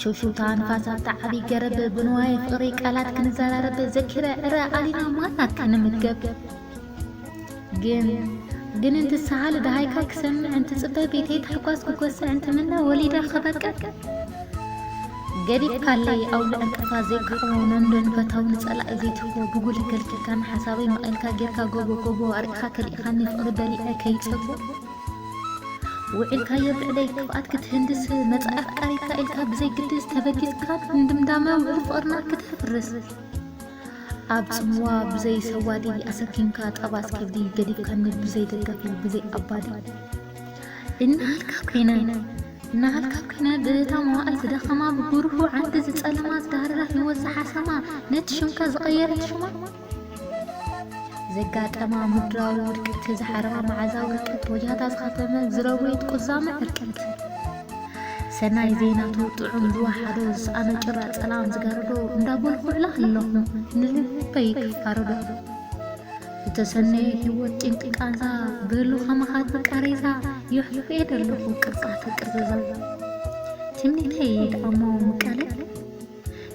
ሽውሽውታ ንፋስ ኣብቲ ዓቢ ገረብ ብንዋየ ፍቕሪ ቃላት ክንዘራረብ ዘኪረ ዕረ ኣሊና ማና ክንምገብ ግን ግን እንትሰሃል ደሃይካ ክሰምዕ እንትጽበ ቤተይ ታሕጓስ ክጎስዕ እንትምነ ወሊደ ክበቅዕ ገዲፍካለይ ኣውሊ ዕንቅፋ ዘይከዕቦ ነንዶ ንፈታዊ ንጸላኢ ዘይትህቦ ብጉሊ ከልኪልካን ሓሳበይ መቒልካ ጌርካ ጎቦ ጎቦ ኣርኢኻ ከሊእኻኒ ፍቕሪ በሊዐ ከይጸቦ ውዒልካዮ ብዕለይ ቅብኣት ክትህንድስ መጻኢ ኣፍቃሪካ ኢልካ ብዘይ ግድስ ተበጊስካ ንድምዳመ ውዕል ፍቕርና ክተፍርስ ኣብ ጽምዋ ብዘይ ሰዋዲ ኣሰኪምካ ጠባስ ከብዲ ገዲፍካኒ ብዘይ ደጋፊ ብዘይ ኣባዲ እናሃልካ ኮይነ እናሃልካ ኮይነ ብእታ መዋእል ዝደኸማ ብጉርሁ ዓንዲ ዝጸለማ ዝዳህረራ ህይወት ዝሓሰማ ነቲ ሽምካ ዝቐየረት ሽማ ዘጋጠማ ምድራዊ ውድቀት ዝሓረማ መዓዛ ውድቀት ወጃታ ዝኸተመ ዝረወየት ቁዛመ ዕርቀት ሰናይ ዜናቱ ጥዑም ዝወሓዶ ዝሰኣነ ጭራ ጸላም ዝጋርዶ እንዳበልኩዕላ ኣለኹ ንልበይ ክፋርዶ ዝተሰነየ ህይወት ጭንቂ ቃንዛ በሉ ከማኻት ቃሬዛ የሕልፍየ ደለኹ ቅርጻተ ቅርዘዛ ትምኒተይ ይድኣሞ ምቃለ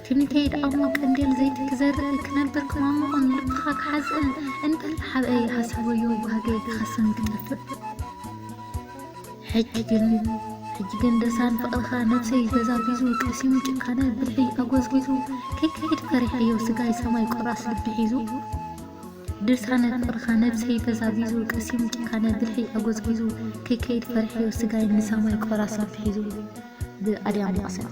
ትምኒተይ ደኣ'ሞ ቀንዴል ዘይቲ ክዘርእ፣ ክነብር ክማሙቕን ልብኻ ክሓዝእን፣ እንተላሓብአ ይሃስይወዮ ባህገይ ክኸስን ክጠፍእ። ሕጂ ግን ሕጂ ግን ድርሳን ፍቕርኻ ነብሰይ ተዛቢዙ፣ ቀሲኑ ጭካነ ብልሒይ ኣጎዝጊዙ፣ ከይከይድ ፈሪሐዮ ስጋይ ሰማይ ቆራስ ልቢ ሒዙ። ድርሳነ ፍቕርኻ ነብሰይ ተዛቢዙ፣ ቀሲኑ ጭካነ ብልሒይ ኣጎዝጊዙ፣ ከይከይድ ፈሪሐዮ ስጋይ ንሰማይ ቆራስ ልቢ ሒዙ። ብኣድያም መቐሰን።